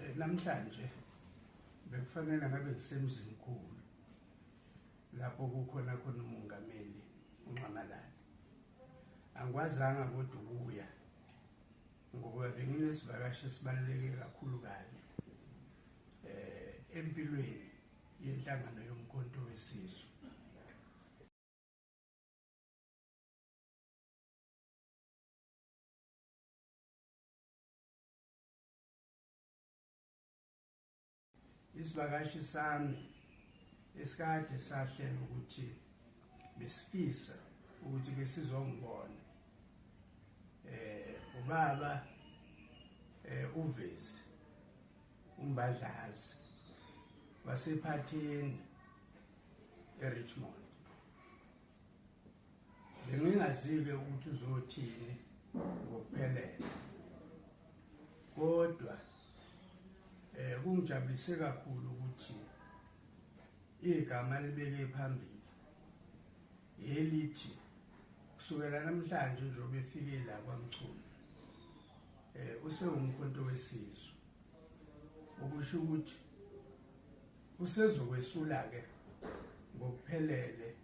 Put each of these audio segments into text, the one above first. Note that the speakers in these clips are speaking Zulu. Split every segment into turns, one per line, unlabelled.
Eh, namhlanje bekufanele ngabe ngisemzini khulu lapho kukhona khona umongameli unxamalala angikwazanga kodwa ukuya ngoba benginesivakashi esibaluleke kakhulu kabi eh empilweni yenhlangano yomkhonto wesizwe isivakashi sami esikade sahlela ukuthi besifisa ukuthi ke sizongibona eh ubaba eh uvezi umbadlazi wasephathini eRichmond Bengingazi-ke ukuthi uzothini ngokuphelele kodwa eh kungijabulise kakhulu ukuthi igama libeke phambili elithi kusukela namhlanje nje obefike la kwamchunu eh usewumkhonto wesizwe okusho ukuthi usezokwesula ke ngokuphelele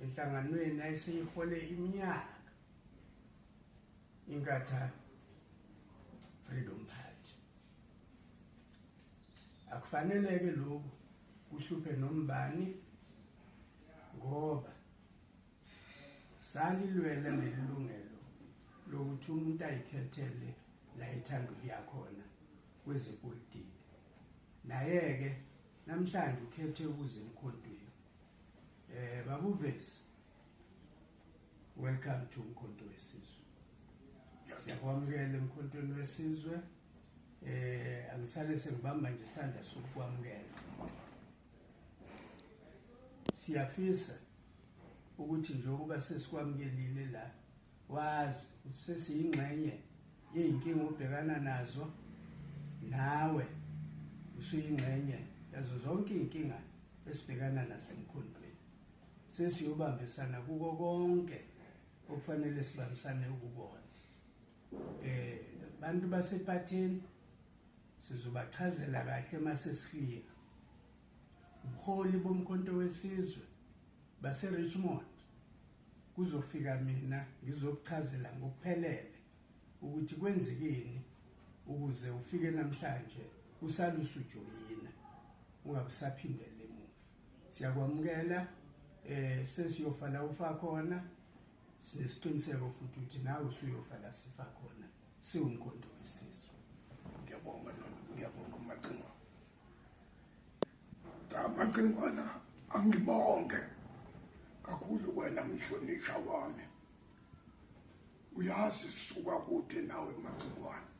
enhlanganweni ayeseyihole iminyaka inkatha freedom party akufaneleke lokhu kuhluphe nombani ngoba salilwela lelilungelo lokuthi umuntu ayikhethele la ithanda ukuya khona kwezepolitiki naye-ke namhlanje ukhethe ukuze emkhontweni Eh babu Vesi. Welcome to Mkhonto wesizwe. Siyakwamukela emkhontweni wesizwe. Eh angisale sengibamba nje isandla sokukwamukela. Siyafisa ukuthi njengoba sesikwamukelile la Wazi ukuthi sesiyingxenye yey'nkinga obhekana nazo nawe usuyingxenye yazo zonke iy'nkinga esibhekana nazo emkhondweni sesiyobambisana kuko konke okufanele sibambisane ukubona eh bantu basephathini sizobachazela kahle uma sesifika ubuholi bomkhonto wesizwe baseRichmond kuzofika mina ngizokuchazela ngokuphelele ukuthi kwenzekeni ukuze ufike namhlanje usalusu joyina ungabusaphindele emuva siyakwamukela eh sesiyofa la ufa khona sinesiqiniseko futhi ukuthi nawe usuyofa la sifa khona siwumkhondo wesizwe ngiyabonga
nona ngiyabonga macingo Camacingwana angibonge kakhulu wena mhlonishwa wami. Uyazi suka kude nawe macingwana.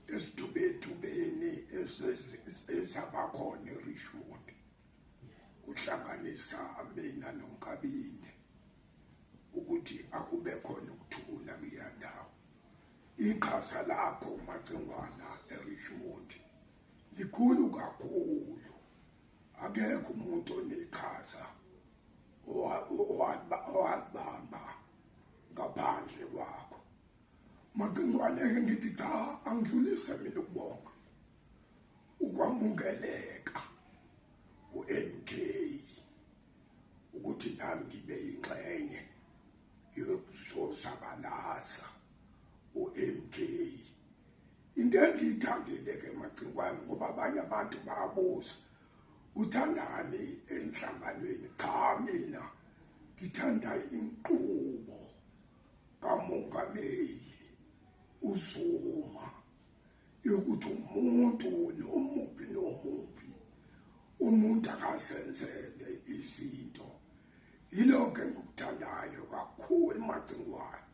Esidubedubeni ezabakhona eRishwood kuhlanganisa mina nonkabinde ukuthi akube khona ukuthula kuyandawo. Iqhaza lakho macingwana eRishwood likhulu kakhulu akekho umuntu oneqhaza owalibamba ngaphandle kwakho macingwane ke ngithi cha angidlulise mina ukubonga ukwamukeleka ku-mk ukuthi nami ngibe yingxenye yokuzozabalaza u-mk into engiyithandile ke macingwane ngoba abanye abantu bayabuza uthandani enhlanganweni cha mina ngithanda inqubo kamongameli uzuma yokuthi umuntu nomuphi nomuphi umuntu akazenzele izinto yilokho engikuthandayo kakhulu macingwane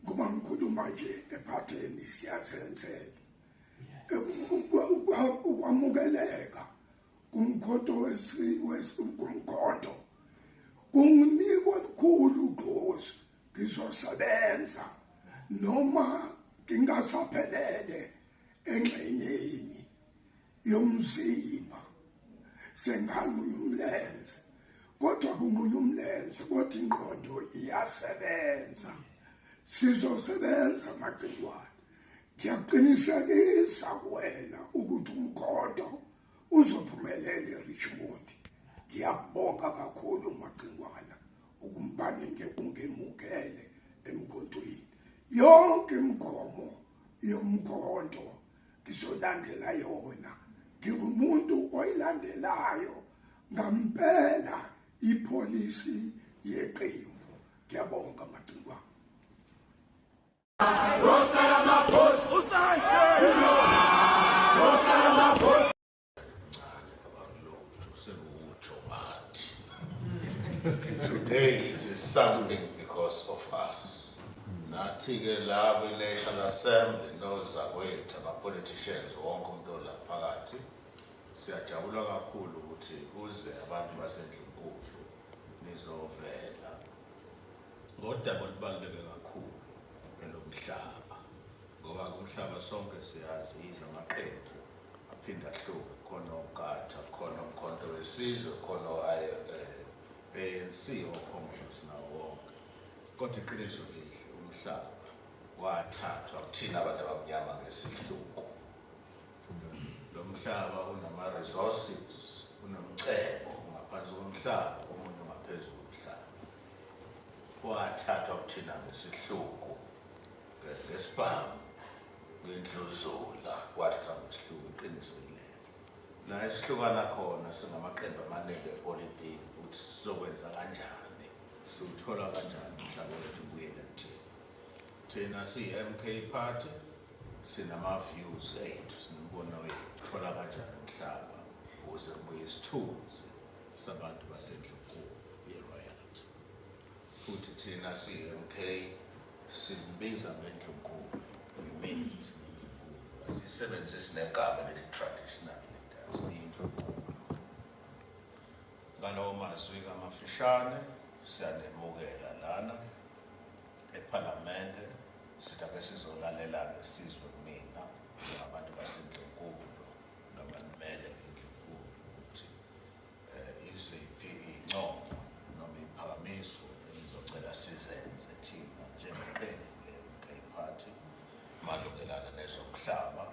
ngoba ngikhuluma nje ephatheni siyazenzela ukwamukeleka kumkhondo kumkhondo kunginika olukhulu ugqozi ngizosebenza noma ngingasaphelele engxenyeni yomzimba senganqunya umlenze kodwa kunqunya umlenze kodwa ingqondo iyasebenza sizosebenza amagciwane ngiyaqinisekisa kuwena ukuthi umkhondo uzophumelela eRichmond ngiyabonga kakhulu umagcingwana ukumbane ngekungemukele emkhontweni yonke imigomo yomkhondo ngizolandela yona ngingumuntu oyilandelayo ngampela ipholisi yeqembu ngiyabonga macingwa Rosa Ramaphosa
Today it is something because of us. Nathi ke la kwi National Assembly nozakwethu ama politicians wonke umuntu ola phakathi siyajabula kakhulu ukuthi kuze abantu basendlunkulu nizovela ngodaba olubaluleke kakhulu elomhlaba. Ngoba kumhlaba sonke siyazi yize amaqembu aphinde ahluke khona ogatha khona umkhonto wesizwe khona o-anc okhongolose nawo wonke kodwa iqiniso lihle umhlaba wathathwa kuthina abantu abamnyama ngesihluku lo mhlaba unama-resources unomcebo ngaphansi komhlaba omunye ungaphezulu umhlaba wathathwa kuthina ngesihluku Ngesibhamu kuyindluzula kwathi sihamba isihluku iqiniso yilelo. La esihlukana khona singamaqembu amaningi epolitiki ukuthi sizokwenza kanjani, siwuthola kanjani umhlaba wethu ubuyele kuthina. Thina siyi-MK Party sinama-views ethu, sinembono yethu, thola kanjani umhlaba ukuze kubuye isithunzi sabantu basendlunkulu. Futhi thina siyi-MK simbiza ngendlunkulu. We mean it ngendlunkulu. Asiyisebenzisi negama elithi traditional leaders, ngendlunkulu. Ngalawo mazwi kamafishane siyanemukela lana ePhalamende sithi ake sizolalela-ke sizwe kunina abantu basendlunkulu noma nimele indlunkulu ukuthi Iziphi iy'ncomo noma iy'phakamiso enizocela sizenze thina njengeqembu le-MK Party malungelana nezomhlaba,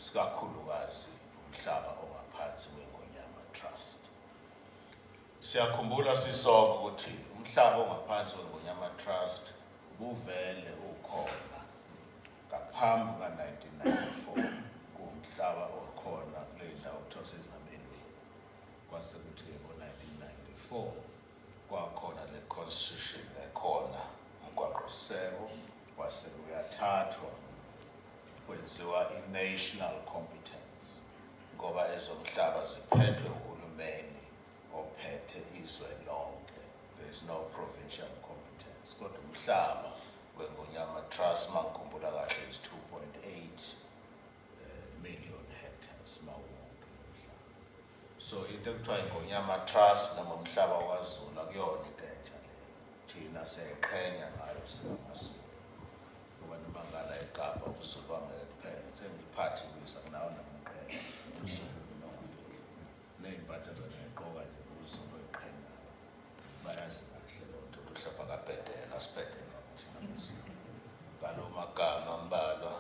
sikakhulukazi umhlaba ongaphansi kweNgonyama Trust? Siyakhumbula sisonke ukuthi umhlaba ongaphansi kweNgonyama Trust ubuvele ukhona ngaphambi kuka-1994, kuwumhlaba okhona kule ndawo okuthiwa kusezabelweni. Kwase kuthi ke ngo-1994 kwakhona le constitution ekhona, umgwaqoseko wase uyathathwa kwenziwa i-national competence ngoba ezomhlaba ziphethwe uhulumeni ophethe izwe lonke. There is no provincial competence kodwa umhlaba weNgonyama Trust mangikhumbula kahle is 2.8 million hectares mawonke lomhlaba so into ekuthiwa ingonyama trust noma umhlaba wazulu akuyona into entsha leyo thina siyayiqhenya ngayo singamazulu ngoba noma ngala ekapa ubuzulu bangeke kuphela sengiliphathi kuyisa kunawo namqhenya uzulu nokufika nezimpatha zona eqoka nje uzulu oyiqhenyayo bayazi kahle loo nto kuhlapha kabhedela sibhedela thina ngalo magama ambalwa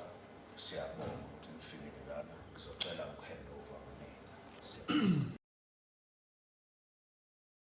Siyabonga ukuthi nifikile lana. Ngizocela ukuhand over kunina.